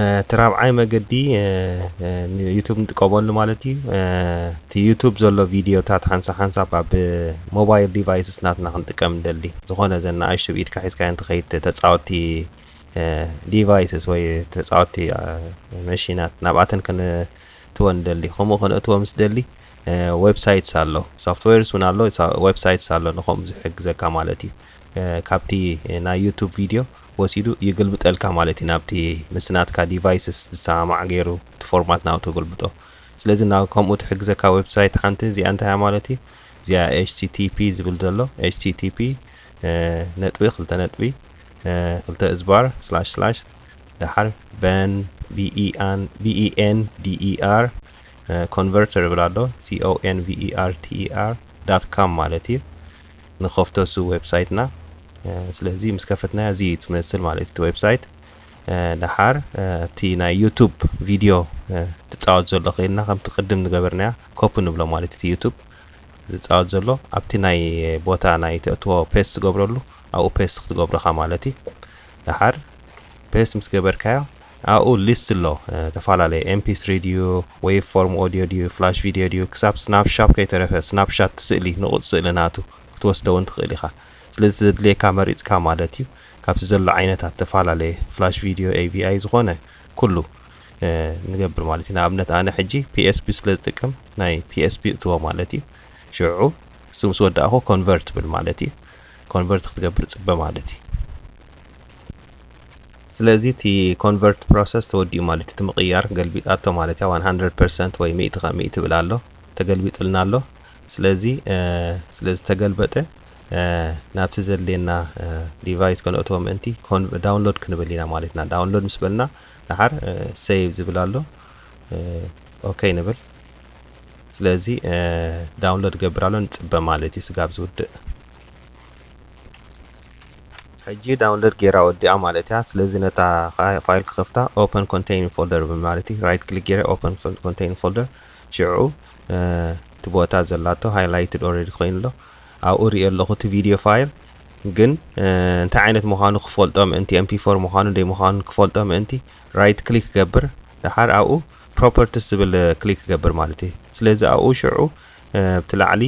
እቲ ራብዓይ መገዲ ዩቱብ ንጥቀመሉ ማለት እዩ እቲ ዩቱብ ዘሎ ቪድዮታት ሓንሳ ሓንሳብ ኣብ ሞባይል ዲቫይስስ ናትና ክንጥቀም ንደሊ ዝኾነ ዘ ንኣሽቱ ብኢድካ ሒዝካ እንትኸይድ ተፃወቲ ዲቫይስስ ወይ ተፃወቲ መሽናት ናብኣተን ክንእትወ ንደሊ ከምኡ ክንእትወ ምስ ደሊ ዌብሳይትስ ኣሎ ሶፍትዌርስ ውን ኣሎ ዌብሳይትስ ኣሎ ንከምኡ ዝሕግዘካ ማለት እዩ ካብቲ ናይ ዩቱብ ቪድዮ ወሲዱ ይግልብጠልካ ማለት እዩ ናብቲ ምስ ናትካ ዲቫይስስ ዝሰማማዕ ገይሩ እቲ ፎርማት ናብኡ ተገልብጦ ስለዚ ናብ ከምኡ ትሕግዘካ ዌብሳይት ሓንቲ እዚኣ እንታይ እያ ማለት እዩ እዚኣ http ዝብል ዘሎ http ነጥቢ ክልተ ነጥቢ ክልተ እዝባር ስላሽ ስላሽ ደሓር በን ቢኢኤን ዲኢኣር ኮንቨርተር ይብል ኣሎ converter dot com ማለት እዩ ንኸፍቶ እሱ ዌብሳይትና ስለዚ ምስ ከፈትናዮ እዚ እዩ ትመስል ማለት እዩ እቲ ዌብሳይት ደሓር እቲ ናይ ዩቱብ ቪድዮ ትፃወት ዘሎ ከይልና ከምቲ ቅድም ዝገበርናያ ኮፒ ንብሎ ማለት እቲ ዩቱብ ዝፃወት ዘሎ ኣብቲ ናይ ቦታ ናይ ተእትዎ ፔስት ትገብረሉ ኣብኡ ፔስት ክትገብረኻ ማለት እዩ ደሓር ፔስት ምስ ገበርካዮ ኣብኡ ሊስት ኣሎ ተፋላለየ ኤምፒ ስሪ ድዩ ዌቭ ፎርም ኦድዮ ድዩ ፍላሽ ቪድዮ ድዩ ክሳብ ስናፕ ሻፕ ከይተረፈ ስናፕ ሻት ስእሊ ንቑጽ ስእሊ ናቱ ክትወስዶ ውን ትኽእል ኢኻ ስለዚ ዘድልየካ መሪጽካ ማለት እዩ ካብቲ ዘሎ ዓይነታት ተፋላለየ ፍላሽ ቪድዮ AVI ዝኾነ ኩሉ ንገብር ማለት እዩ ንኣብነት ኣነ ሕጂ PSP ስለ ዝጥቀም ናይ PSP እእትዎ ማለት እዩ ሽዑ እሱ ምስ ወዳእኹ ኮንቨርት ብል ማለት እዩ ኮንቨርት ክትገብር ጽበ ማለት እዩ ስለዚ እቲ ኮንቨርት ፕሮሰስ ተወዲኡ ማለት እቲ ምቕያር ገልቢጣቶ ማለት እያ ዋን ሃንድረድ ፐርሰንት ወይ ሚእቲ ካብ ሚእቲ ይብል ኣሎ ተገልቢጥልና ኣሎ ስለዚ ስለ ዝተገልበጠ ናብቲ ዘድልየና ዲቫይስ ከነእትዎ ምእንቲ ዳውንሎድ ክንብል ኢና ማለት ኢና ዳውንሎድ ምስ በልና ደሓር ሴቭ ዝብል ኣሎ ኦኬ ንብል ስለዚ ዳውንሎድ ገብር ኣሎ ንፅበ ማለት እዩ ስጋብ ዝውድእ ሕጂ ዳውንለድ ገይራ ወዲኣ ማለትያ ስለዚ ነታ ፋይል ክከፍታ ኦፐን ኮንተይኒንግ ፎልደር ማለትዩ ራይት ክሊክ ገይረ ኦፐን ኮንተይኒንግ ፎልደር ሽዑ እቲ ቦታ ዘላቶ ሃይላይትድ ኦረዲ ኮይኑ ኣሎ ኣብኡ ሪኦ ኣለኹ እቲ ቪድዮ ፋይል ግን እንታይ ዓይነት ምዃኑ ክፈልጦ ምእንቲ ኤምፒ ፎር ምዃኑ ደይ ምዃኑ ክፈልጦ ምእንቲ ራይት ክሊክ ገብር ድሓር ኣብኡ ፕሮፐርቲስ ዝብል ክሊክ ገብር ማለት እዩ ስለዚ ኣብኡ ሽዑ ኣብቲ ላዕሊ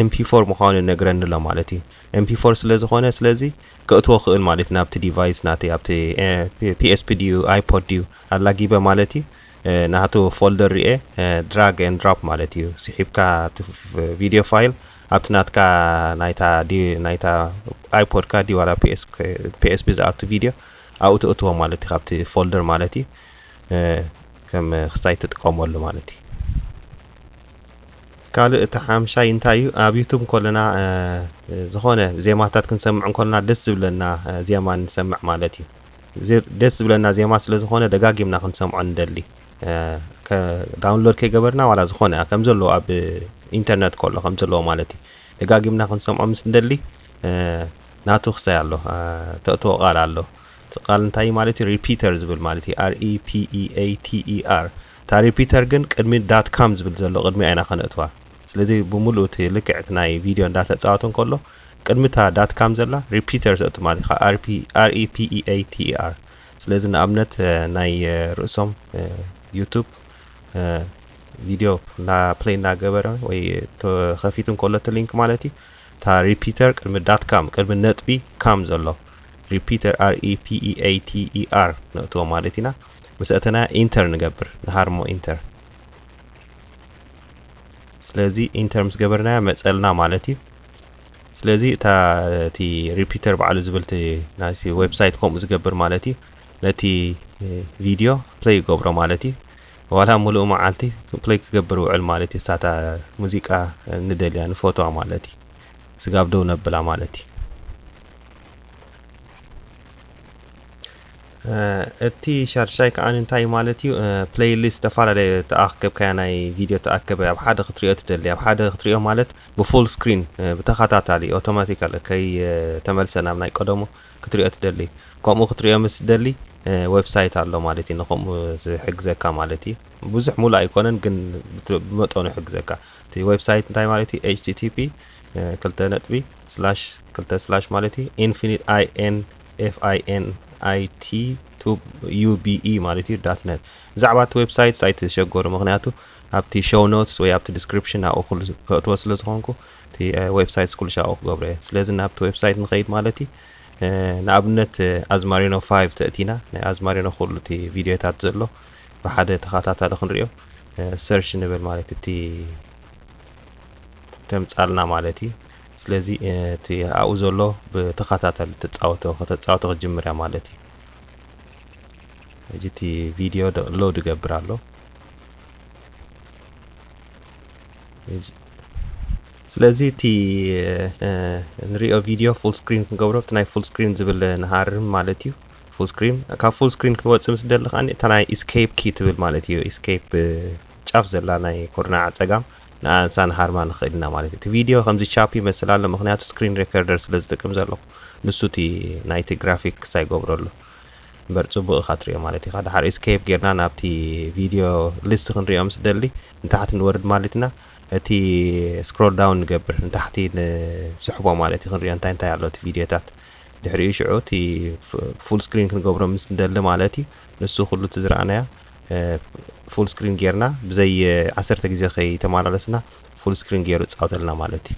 ኤምፒ ፎር ምዃኑ ነግረኒ ኣሎ ማለት እዩ MP4 ስለ ዝኾነ ስለዚ ከእትዎ ክእል ማለት እዩ ናብቲ ዲቫይስ ናተይ ኣብቲ PSP ድዩ iPod ድዩ ኣላጊበ ማለት እዩ ናቱ ፎልደር ሪኤ ድራግ ኤንድ ድሮፕ ማለት እዩ ስሒብካ እቲ ቪድዮ ፋይል ኣብቲ ናትካ ናይታ ናይታ ኣይፖድካ ድዩ ዋላ PSP ዝኣቱ ቪድዮ ኣብኡ ተእትዎ ማለት እዩ ካብቲ ፎልደር ማለት እዩ ከም ክስታይ ትጥቀመሉ ማለት እዩ ካልእ እቲ ሓምሻይ እንታይ እዩ ኣብ ዩቱብ ከለና ዝኾነ ዜማታት ክንሰምዕ እንከለና ደስ ዝብለና ዜማ ንሰምዕ ማለት እዩ ደስ ዝብለና ዜማ ስለ ዝኾነ ደጋጊምና ክንሰምዖ ንደሊ ዳውንሎድ ከይገበርና ዋላ ዝኾነ ከም ዘለዎ ኣብ ኢንተርነት ከሎ ከም ዘለዎ ማለት እዩ ደጋጊምና ክንሰምዖ ምስ ንደሊ ናቱ ክሳይ ኣሎ ተእትዎ ቃል ኣሎ እቲ ቃል እንታይ ማለት እዩ ሪፒተር ዝብል ማለት እዩ ር ኢ ፒ ኢ ኤ ቲ ኢ ኣር ታሪ ፒተር ግን ቅድሚ ዳት ካም ዝብል ዘሎ ቅድሚኣ ኢና ከነእትዋ ስለዚ ብሙሉኡ እቲ ልክዕ እቲ ናይ ቪድዮ እንዳተጻወተ እንከሎ ቅድሚ እታ ዳት ካም ዘላ ሪፒተር ዘእቱ ማለት ኢኻ RP REPEATER ስለዚ ንኣብነት ናይ ርእሶም ዩቱብ ቪድዮ እና ፕሌይ እናገበረ ወይ ተኸፊቱ እንከሎ እቲ ሊንክ ማለት እዩ እታ ሪፒተር ቅድሚ ዳት ካም ቅድሚ ነጥቢ ካም ዘሎ ሪፒተር REPEATER ነእትዎ ማለት ኢና ምስ ኣተና ኢንተር ንገብር ንሃርሞ ኢንተር ስለዚ ኢንተር ምስ ገበርናያ መፀልና ማለት እዩ ስለዚ እታ እቲ ሪፒተር ባዕሉ ዝብል ናይቲ ዌብሳይት ከምኡ ዝገብር ማለት እዩ ነቲ ቪድዮ ፕለይ ይገብሮ ማለት እዩ ዋላ ሙሉእ መዓልቲ ፕለይ ክገብር ውዕል ማለት እዩ ሳታ ሙዚቃ ንደልያ ንፎቶዋ ማለት እዩ ስጋብ ደው ነብላ ማለት እዩ እቲ ሻድሻይ ከኣ እንታይ ማለት እዩ ፕለይ ሊስት ዝተፈላለየ ተኣከብካያ ናይ ቪድዮ ተኣከበ ኣብ ሓደ ክትሪኦ ትደሊ ኣብ ሓደ ክትሪኦ ማለት ብፉል ስክሪን ብተኸታታሊ ኦቶማቲካል ከይ ተመልሰ ናብ ናይ ቀደሙ ክትሪኦ ትደሊ ከምኡ ክትሪኦ ምስ ትደሊ ዌብሳይት ኣሎ ማለት እዩ ንከምኡ ዝሕግዘካ ማለት እዩ ብዙሕ ሙሉእ ኣይኮነን ግን ብመጠኑ ይሕግዘካ እቲ ዌብሳይት እንታይ ማለት እዩ ኤች ቲ ቲ ፒ ክልተ ነጥቢ ስላሽ ክልተ ስላሽ ማለት እዩ ኢንፊኒት ኣይ ኤን FINIT UBE ማለት እዩ ዳት ነት ብዛዕባ እቲ ዌብሳይት ሳይት ተሸገሩ ምክንያቱ ኣብቲ ሾው ኖትስ ወይ ኣብቲ ዲስክሪፕሽን ኣብኡ ኩሉ ከእትዎ ስለ ዝኾንኩ እቲ ዌብሳይት ኩሉ ሻብኡ ክገብሮ እየ ስለዚ ናብቲ ዌብሳይት ንኸይድ ማለት እዩ ንኣብነት ኣዝማሪኖ 5 ተእቲና ናይ ኣዝማሪኖ ኩሉ እቲ ቪድዮታት ዘሎ ብሓደ ተኸታታሊ ክንሪኦ ሰርች ንብል ማለት እቲ ተምጻልና ማለት እዩ ስለዚ እቲ ኣብኡ ዘሎ ብተኸታታሊ ትጻወቶ ከተጻወቶ ክትጅምር እያ ማለት እዩ ሕጂ እቲ ቪድዮ ሎድ ይገብር ኣሎ ስለዚ እቲ ንሪኦ ቪድዮ ፉል ስክሪን ክንገብሮ እቲ ናይ ፉል ስክሪን ዝብል ንሃርም ማለት እዩ ፉል ስክሪን ካብ ፉል ስክሪን ክወፅእ ምስ ደሊ ከዓ እታ ናይ ኢስኬፕ ኪ ትብል ማለት እዩ ኢስኬፕ ጫፍ ዘላ ናይ ኮርናዕ ፀጋም ንኣንሳ ንሃርማ ንክእል ኢና ማለት እዩ እቲ ቪድዮ ከምዚ ቻፒ ይመስል ኣሎ ምክንያቱ ስክሪን ሬከርደር ስለ ዝጥቅም ዘለኩ ንሱ እቲ ናይቲ ግራፊክስ ኣይገብሮ ኣሎ እምበር ጽቡቅ ኢካ ትሪኦ ማለት ኢካ ድሓር ኢስኬፕ ጌርና ናብቲ ቪድዮ ሊስት ክንሪኦ ምስ ደሊ ንታሕቲ ንወርድ ማለት ኢና እቲ ስክሮል ዳውን ንገብር ንታሕቲ ንስሕቦ ማለት እዩ ክንሪኦ እንታይ እንታይ ኣሎ እቲ ቪድዮታት ድሕሪኡ ሽዑ እቲ ፉል ስክሪን ክንገብሮ ምስ ንደሊ ማለት እዩ ንሱ ኩሉ እቲ ዝረኣናዮ ፉል ስክሪን ጌርና ብዘይ ዓሰርተ ግዜ ከይተመላለስና ፉል ስክሪን ገይሩ ይፃወተልና ማለት እዩ